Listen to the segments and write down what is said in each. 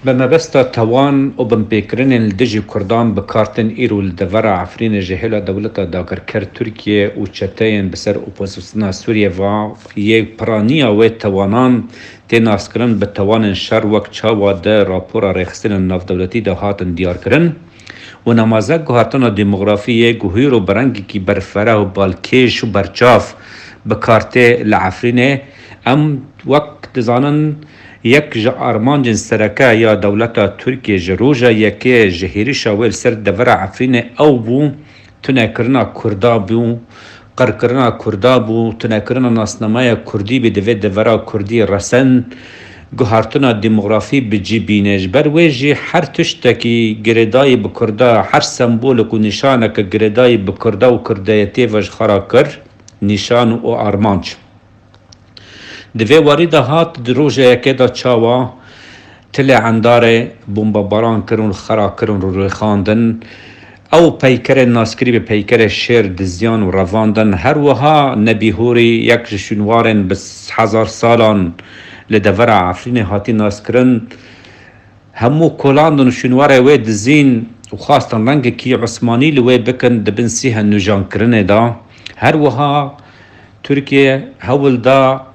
Bi mebesta tawan û binpêkirinên li dijî Kurdan bi kar tên îro li devera Efrînê ji hêla dewleta dagirker Tirkiye û çeteyên bi ser opozîsyona Sûriyê ve yê piraniya wê tawanan tê naskirin bi tawanên şer wek çawa di rapora rêxistinên navdewletî de hatin diyarkirin û namaze guhertina demografî yê ku hîro bi rengekî berfireh û balkêş û berçav bi kar tê li Efrînê em wek dizanin Yek ji armancên sereke ya dewleta Tirkiyê ji roja yekê ji hêrişa wê li ser devera Efrînê ew bû tunekirina Kurda bû, qirkirina Kurda bû, tunekirina nasnameya Kurdî bê divê devera Kurdî resend, guhartina demografî bi cî bîne. Ji ber wê jî her tiştekî girêdayî bi Kurda, her sembolik û nîşaneke girêdayî bi Kurda û Kurdayetiyê ve ji xwe re kir nîşan û armanc. Di vê warî de hat di rojeyeke de çawa Tilê Endarê bombebaran kirin û xera kirin û rêxandin. Ew peykerên naskirî bi peykerê Şêr dizyan û revandin. Her wiha Nebî Hûrî yek ji şûnwarên bi hezar salan li devera Efrînê hatî naskirin. Hemû kolandin û şûnwarê wê dizîn û xwastin rengekî osmanî li wê bikin di bin sîhe nûjankirinê de. Her wiha. Tirkiye hewl da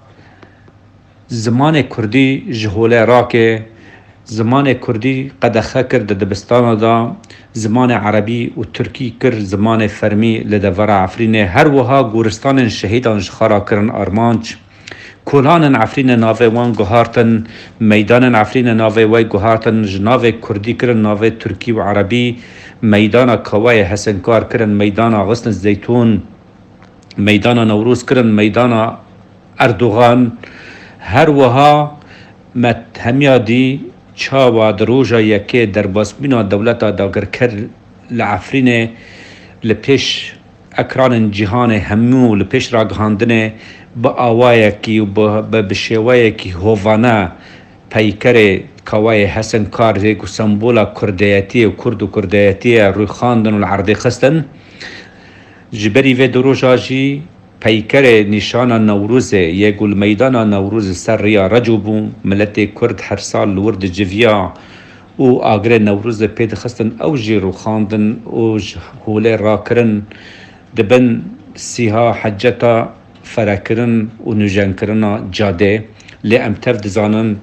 zimanê kurdî ji holê rake, zimanê kurdî qedexe kir di dibistana de, zimanê erebî û tirkî kir zimanê fermî li devera Efrînê, her wiha goristanên şehîdan ji xwe re kirin armanc. Kolanên Efrînê navê wan guhartin, meydanên Efrînê navê we guhartin, ji navê kurdî kirin navê tirkî û erebî, meydana kaweyê Hesinkar kirin meydana Xusn Zeytûn. Meydana Newroz kirin meydana Erdogan. Her wiha me hemiya dî çawa di roja yekê derbasbûna dewleta dagirker li Efrînê li pêş ekranên cîhanê hemû li pêş ragihandine bi awayekî û bi şêweyekî hovane peykerê kawayê Hesen Kar yê ku sembola kurdeyetiyê û kurd û kurdeyetiyê ye rûyxandin û li erdê xistin. Ji berî vê du roja jî peykerê nîşana Newrozê yê ku li meydana Newroz li ser rêya Reco bû, miletê Kurd her sal li wir diciviya û agirê Newrozê pê dixistin ew jî rûxandin û ji holê rakirin di bin sîha heceta ferekirin û nûjenkirina cadê lê em tev dizanin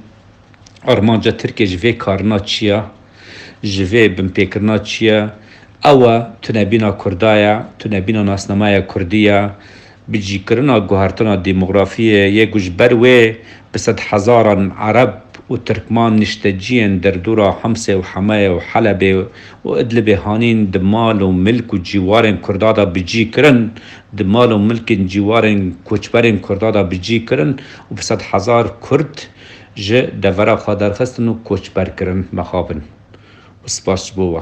Armanca Tirkiyê ji vê karina çi ye, ji vê binpêkirina çi ye? Ew e tunebîna Kurda ye, tunebîna nasnameya Kurdî ye, bicîkirina guhertina dîmografiyê yê ku ji ber wê bi sed hezaran Ereb û Tirkman nişteciyên derdora Himsê û Hemeyê û Helebê û Idlibê hanîn di mal û milk û cîwarên Kurda de bicî kirin, di mal û milkên cîwarên koçberên Kurda de bicî kirin û bi sed hezar Kurd. Ji devera xwe derxistin û koçberkirin mexabin û spas ji bo we.